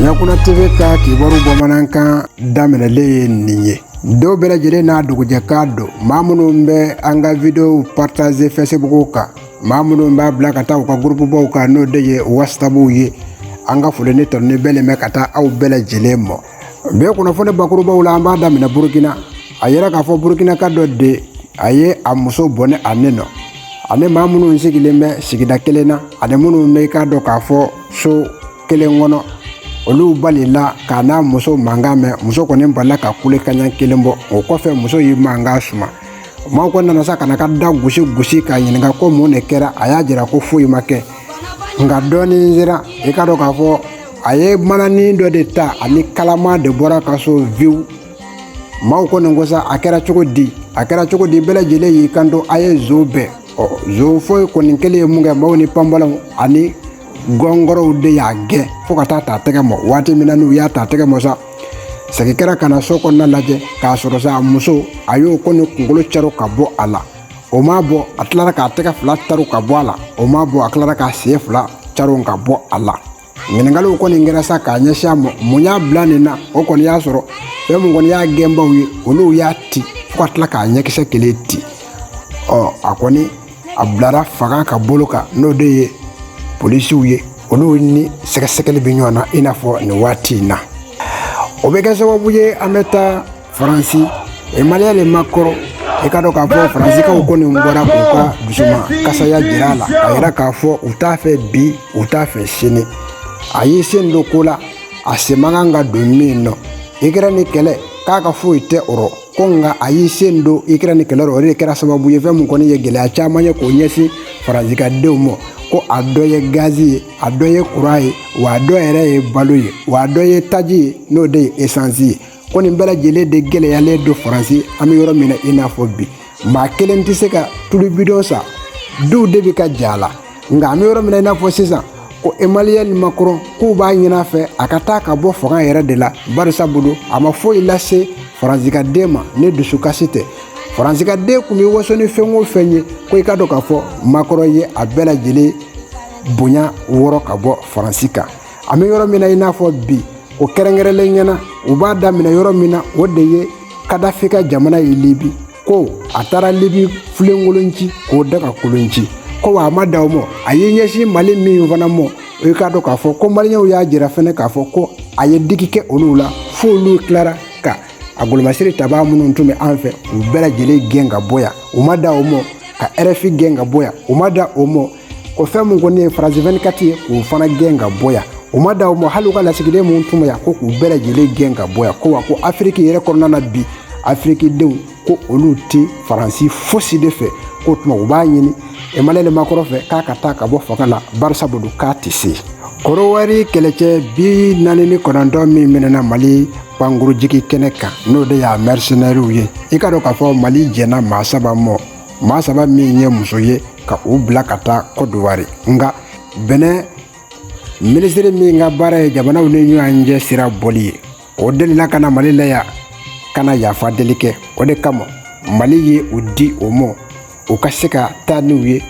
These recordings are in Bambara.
ɲakuna teve ka kibaru bamanankan daminɛlen ye nin ye dɔw bɛɛ lajɛlen n'a dugujɛkan don maa minnu bɛ an ka videow partaze fɛsibuguw kan maa minnu b'a bila ka taa u ka gurupubaw kan n'o de ye wasabuw ye an ka foli ni tanuni bɛɛ nin bɛ ka taa aw bɛɛ lajɛlen mɔ bɛɛ kunnafoni bakurubaw la an b'a daminɛ burukina a yɛrɛ k'a fɔ burukinaka dɔ de a ye a muso bɔnɛ a ni nɔ ani maa minnu sigilen bɛ sigida kelen na ani minnu bɛ i k'a dɔn k'a fɔ so kelen kɔnɔ olu balila k'a n'a muso mankan mɛn muso kɔni balila ka kule kaɲa kelen bɔ o kɔfɛ muso y'i mankan suma maaw ko nana sa ka na ka da gosi gosi k'a ɲininka ko mun de kɛra a y'a jira ko foyi ma kɛ nka dɔɔnin sera i k'a dɔn k'a fɔ a ye mananin dɔ de ta ani kalama de bɔra ka so viwu maaw ko nin ko sa a kɛra cogo di a kɛra cogo di bɛɛ lajɛlen y'i kanto a ye zon bɛn ɔ zon fɔli kɔni kɛlen ye min kɛ maaw ni panbɔlɔw ani gɔngɔrɔw de y'a gɛn fo ka taa ta tɛgɛ mɔ waati min na n'u y'a ta tɛgɛ mɔ sa segin kɛra ka na so kɔnɔna lajɛ k'a sɔrɔ sa a muso a y'o ko ni kunkolo cɛro ka bɔ a la o m'a bɔ a tilara k'a tɛgɛ fila caro ka bɔ a la o m'a bɔ a tilara k'a sen fila caro ka bɔ a la ɲininkaliw kɔni kɛra sa k'a ɲɛsin a ma mun y'a bila nin na o kɔni y'a sɔrɔ fɛn min kɔni y'a gɛnbaw ye olu y'a ti fo ka tila k'a ɲɛkisɛ kelen ti ɔ a kɔni a bilara fanga ka bolo kan n'o de ye polisiw ye olu ni sɛgɛsɛgɛli bɛ ɲɔgɔn na i n'a fɔ nin waati in na o bɛ kɛ sababu ye an bɛ taa faransi emaliyɛli makɔrɔn i k'a dɔn k'a fɔ faransikaw kɔni bɔra k'u ka dusumakasiya jira a la a yɛrɛ k'a fɔ u t'a fɛ bi u t'a fɛ sini a y'i sen don ko la a sen man kan ka don min nɔ ikɛrɛni kɛlɛ k'a ka foyi tɛ o rɔ ko nka a y'i sen don ikɛrɛni kɛlɛ rɔ o de kɛra sababu ye fɛn min kɔni ye gɛlɛya caman ye k'o ɲɛsin faranzikadenw ma ko a dɔ ye gazi ye a dɔ ye kuran ye wa a dɔ yɛrɛ ye balo ye wa a dɔ ye taji ye n'o de ye esansi ye ko nin bɛɛ lajɛlen de gɛlɛyalen don faransi an bɛ yɔrɔ min na i n'a fɔ bi maa kelen tɛ se ka tulu bidɔn san duw de bɛ ka ja a la nka an bɛ yɔrɔ min na i n'a fɔ sisan ko emaliyɛli makɔrɔn k'u b'a ɲin'a fɛ a ka taa ka bɔ fanga yɛrɛ de la barisa bolo a ma foyi lase faranzikaden ma ni dusukasi tɛ faranzikaden tun bɛ waso ni fɛn o fɛn ye ko i k'a dɔn k'a fɔ makɔrɔn ye a bɛɛ lajɛlen bonya wɔrɔ ka bɔ faransi kan an bɛ yɔrɔ min na i n'a fɔ bi o kɛrɛnkɛrɛnlen ɲɛna u b'a daminɛ yɔrɔ min na o de ye kadafi ka jamana ye libi ko a taara libi filenkolon ci k'o dagakolon ci ko wa a ma dan o ma a y'i ɲɛsin mali min fana mɔ i k'a dɔn k'a fɔ ko maliyɛnw y'a jira fɛnɛ k'a fɔ ko a ye digi kɛ olu la fo olu tilara ka a golomasiri tabaa minnu tun bɛ an fɛ u bɛɛ lajɛlen gɛn ka bɔ yan u ma dan o ma ka rfi gɛn ka bɔ yan u ma dan o ma ko fɛn mun kɔni ye faransi 24 ye k'o fana gɛn ka bɔ yan u ma dan o ma hali u ka lasigiden minnu tun bɛ yan ko k'u bɛɛ lajɛlen gɛn ka bɔ yan ko wa ko afiriki yɛrɛ kɔnɔna na bi afirikidenw ko olu tɛ faransi fosi de fɛ k'o tuma u b'a ɲini emmanuel makɔrɔn fɛ k'a ka taa ka bɔ fanga la barisa bolo k'a tɛ se kɔdowari kɛlɛcɛ bi naani ni kɔnɔntɔn min minɛna mali pankurujigi kɛnɛ kan n'o de ye mɛrisinɛriw ye i k'a dɔn k'a fɔ mali jɛnna maa saba mɔ maa saba min ye muso ye ka u bila ka taa kɔdowari nka bɛnɛn minisiri min ka baara ye jamanaw ni ɲɔgɔn cɛ sira bɔli ye o delila ka na mali la yan ka na yafa deli kɛ o de kama mali ye u di o ma u ka se ka taa n'u ye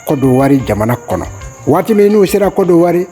kɔdowari jamana kɔnɔ waati min n'u sera kɔdowari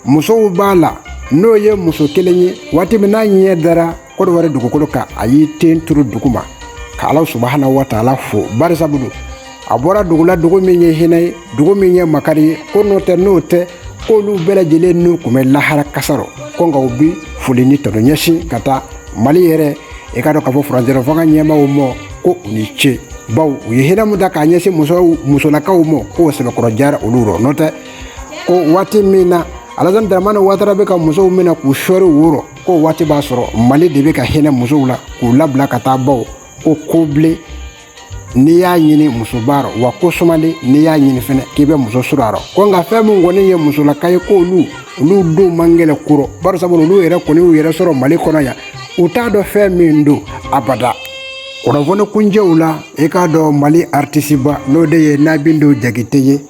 musow b'a la n'o ye muso kelen ye waati min n'a ɲɛ dara kɔdowari dugukolo kan a y'i ten turu dugu ma ka ala subahana wataala fo barisabu don a bɔra dugu la dugu min ye hinɛ ye dugu min ye makari ye ko n'o tɛ n'o tɛ k'olu bɛɛ lajɛlen n'u kun bɛ lahara kaso rɔ ko nka u bi foli ni tanu ɲɛsin ka taa mali yɛrɛ i k'a dɔn k'a fɔ furancɛla fanga ɲɛmaaw mɔ ko u ni ce bawo u ye hinɛ min da k'a ɲɛsin musow musolakaw mɔ k'o sɛbɛkɔrɔ diyara olu rɔ n'o tɛ ko waati min na alazan daramani watara bɛ ka musow minɛ k'u sɔri wo rɔ k'o waati b'a sɔrɔ mali de bɛ ka hinɛ musow la k'u labila ka taa bawo ko kobilen n'i y'a ɲini muso b'a rɔ wa ko sumalen n'i y'a ɲini fɛnɛ k'i bɛ muso sɔrɔ a rɔ ko nka fɛn min kɔni ye musolaka ye k'olu olu denw man gɛlɛn koro bari sabu olu yɛrɛ kɔni y'u yɛrɛ sɔrɔ mali kɔnɔ yan u t'a dɔn fɛn min don abada kunnafoni kuncɛ la i k'a dɔn mali aritisiba n'o de ye nabintu jakite ye